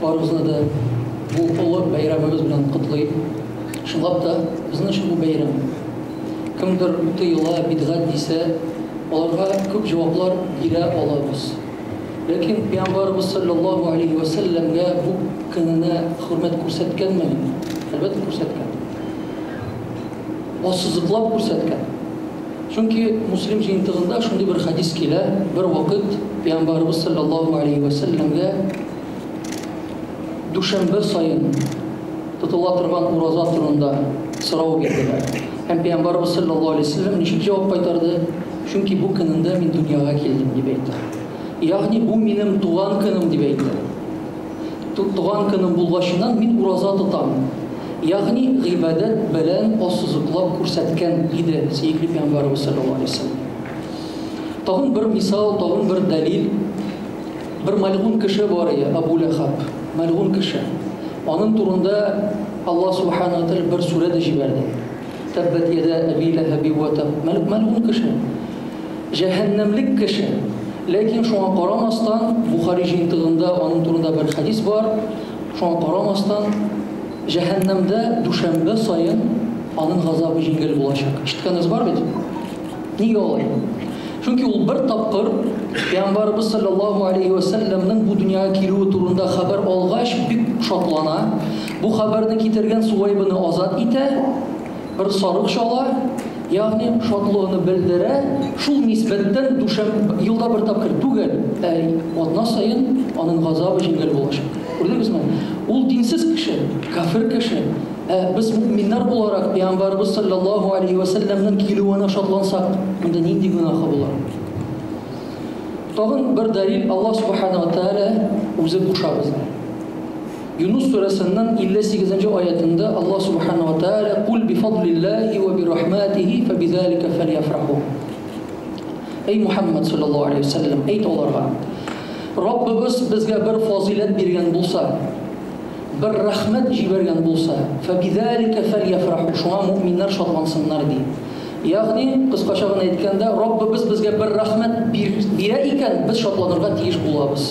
Барыбызны да бу олы бәйрәмебез белән котлыйм. Чынлап та, безнең өчен бу бәйрәм. Кемдер тыела, бидгат дисә, аларга күп җаваплар бирә алабыз. Ләкин пәйгамбарыбыз саллаллаһу алейһи ва сәлләмгә бу көненә хөрмәт күрсәткәнме? Әлбәттә, күрсәткән. Ассызыклап күрсәткән. Чөнки Муслим җыентыгында шундый бер хәдис килә, бервакыт Пәйгамбарыбыз салләллаһу алейһи вә сәлләмгә дүшәмбе саен тотыла торган ураза турында сорау бирделәр. Һәм Пәйгамбарыбыз салләллаһу алейһи вә сәлләм ничек җавап кайтарды? Чөнки бу көнендә мин дөньяга килдем, дип әйтте. Ягъни бу минем туган көнем, дип әйтте. Туган көнем булгачыннан мин ураза тотам. Ягъни гыйбадәт белән ассызыклап күрсәткән иде сөекле пәйгамбәребез саллаллаһу алейһи ва сәлләм. Тагын бер мисал, тагын бер дәлил. Бер мәлгун кеше бар иде, Абу Ләхаб. Мәлгун кеше. Аның турында Аллаһ субхана ва тәгалә бер сүрә дә җибәрде. Тәббәт йәдә әби ләһәби вә тәб, мәлгун кеше, җәһәннәмлек кеше. Ләкин шуңа карамастан, Бухари җыентыгында аның турында бер хәдис бар, шуңа карамастан, җәһәннәмдә дүшәмбе саен аның газабы җиңел булачак. Ишеткәнегез бар бит? Нигә алай? Чөнки ул бер тапкыр Пәйгамбарыбыз салләллаһу алейһи вә сәлләмнең бу дөньяга килүе турында хәбәр алгач бик шатлана, Бу хәбәрне китергән Суәйбыны азат итә, бер сарык чала, ягъни шатлыгыны белдерә, шул нисбәттән дүшәм, елда бер тапкыр түгел, ә атна саен аның газабы җиңел булачак. Күрдегезме? Ул динсез кеше, кафир кеше, ә без мөэминнәр буларак, пәйгамбәребез салләллаһу алейһи вә сәлләмнең килүенә шатлансак, монда нинди гөнаһы була? Тагын бер дәлил, Аллаһ субхана ва тәгалә үзе куша безгә. Юнус сүрәсенең 58 нче аятендә Аллаһ Сүбхәнәһү вә Тәгалә, Куль бифадлиллаһи вә биррахматихи фәбизалика фәльяфраху. Әй Мухәммәд салләллаһу алейһи вә сәлләм, әйт аларга, Раббыбыз безгә бер фазыйләт биргән булса, бер рәхмәт җибәргән булса, фәбизалика фәльяфраху, шуңа мөэминнәр шатлансыннар, ди. Ягъни, кыскача гына әйткәндә, Раббыбыз безгә бер рәхмәт бирә икән, без шатланырга тиеш булабыз.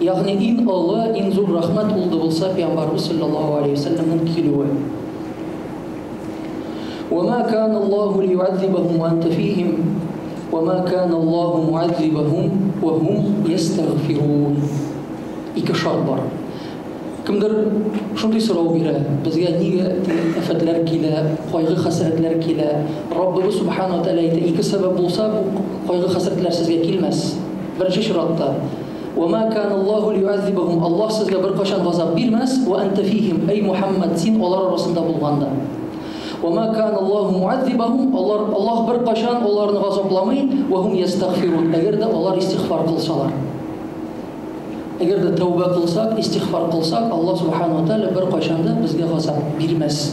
Ягъни иң олы, иң зур рәхмәт ул да булса пиамбарыбыз салләллаһу алейһи ва сәлләмнең килүе. Ва ма кана Аллаһу лиюазибахум ва анта фихим ва ма кана Аллаһу муазибахум ва хум ястагфирун. Ике шарт бар. Кемдер шундый сорау бирә, безгә нигә афәтләр килә, кайгы хәсрәтләр килә? Раббыбыз субхана ва тәгалә әйтә, ике сәбәп булса, бу кайгы хәсрәтләр сезгә килмәс. Беренче чиратта, Ва ма кана Аллаһу лиюазибахум, Аллаһ сезгә беркайчан газап бирмәс, ва әнтә фихим, әй Мухәммәд, син алар арасында булганда. Ва ма кана Аллаһу муазибахум, алар, Аллаһ беркайчан аларны газапламый, ва һум ястагфирун, әгәр дә алар истигъфар кылсалар. Әгәр дә тәүбә кылсак, истигъфар кылсак, Аллаһ субхана ва тааля беркайчан да безгә газап бирмәс.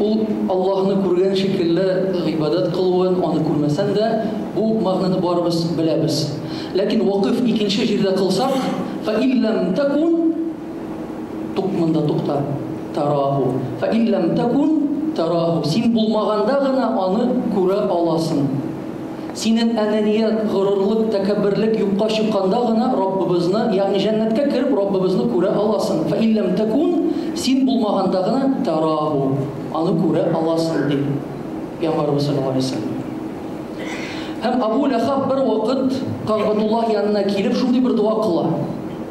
Ул Аллаһны күргән шикелле гыйбадәт кылуын, аны күрмәсәң дә, бу мәгънәне барыбыз беләбез. Ләкин вакыйф икенче җирдә кылсак, Фәин ләм тәкун, тук монда тукта, тәраху, Фәин ләм тәкун тәраху, син булмаганда гына аны күрә аласың. Синең әнәният, горурлык, тәкәбберлек юкка чыкканда гына Раббыбызны, ягъни җәннәткә кереп Раббыбызны күрә аласың. Фә ин ләм тәкун, син булмаганда гына, тәрагу, аны күрә аласың, ди Пәйгамбәребез салләллаһу галәйһи ва сәлләм. Һәм Абу Ләхаб бервакыт Кагъбатуллаһ янына килеп шундый бер дога кыла.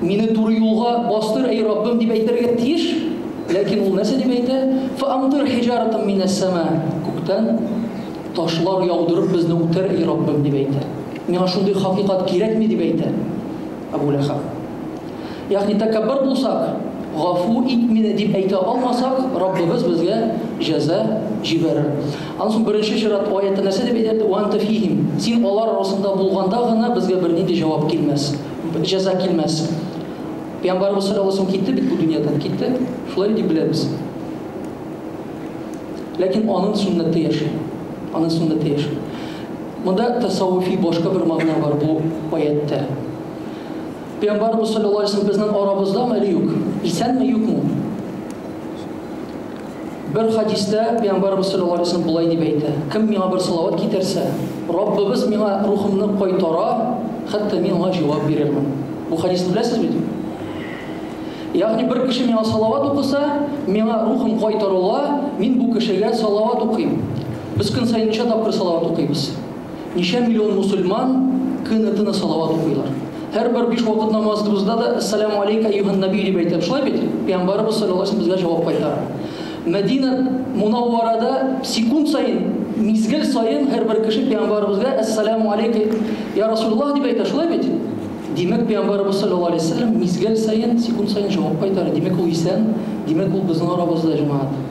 Мине туры юлга бастыр, әй Раббым, дип әйтергә тиеш. Ләкин ул нәрсә дип әйтә? Фаамтыр хиҗаратым минәс сама. Күктән ташлар яудырып безне үтер, әй Раббым, дип әйтә. Миңа шундый хакыйкат кирәкми, дип әйтә Абу Ләхаб. Ягъни тәкәббер булсак, гафу ит мине дип әйтә алмасак, Раббыбыз безгә җәза җибәрер. Аннан соң беренче чират аятта нәрсә дип әйтә? Ва анта фихим. Син алар арасында булганда гына безгә бернинди җавап килмәс. Бер җәза килмәс. Пәйгамбарыбыз саллаллаһу алейһи ва сәлләм китте бит бу дөньядан, китте. Шулай дип беләбез. Ләкин аның сөннәте яши. Аның сөннәте яши. Монда тасаввуфи башка бер мәгънә бар бу аятьтә. Пәйгамбарыбыз саллаллаһу алейһи ва сәлләм безнең арабызда ме әле юк? Исәнме, юкмы? Бер хәдистә Пәйгамбәрбез саллаллаһу алейһи ва сәлләм болай дип әйтә, Кем миңа бер салават китерсә, Раббыбыз миңа рухымны кайтара, хәтта мин аңа җавап бирермен. Бу хәдисне беләсез бит? Ягъни бер кеше миңа салават укыса, миңа рухым кайтарыла, мин бу кешегә салават укыйм. Без көн саен ничә тапкыр салават укыйбыз? Ничә миллион мусульман көне төне салават укыйлар. Һәрбер биш вакыт намазыбызда да Әссәләмү алейка әйюһән нәби дип әйтәбез, шулай бит? Пәйгамбәребез саллаллаһу алейһи ва саллям безгә җавап кайтара. Мәдинә Мунавварада секунд саен, мизгел саен һәрбер кеше пәйгамбәребезгә Әссәләмү алейка йа Расулуллаһ дип әйтә, шулай бит? Димәк, пәйгамбәребез саллаллаһу алейһи ва саллям мизгел саен, секунд саен җавап кайтара. Димәк, ул исән, димәк, ул безнең арабызда, җәмәгать.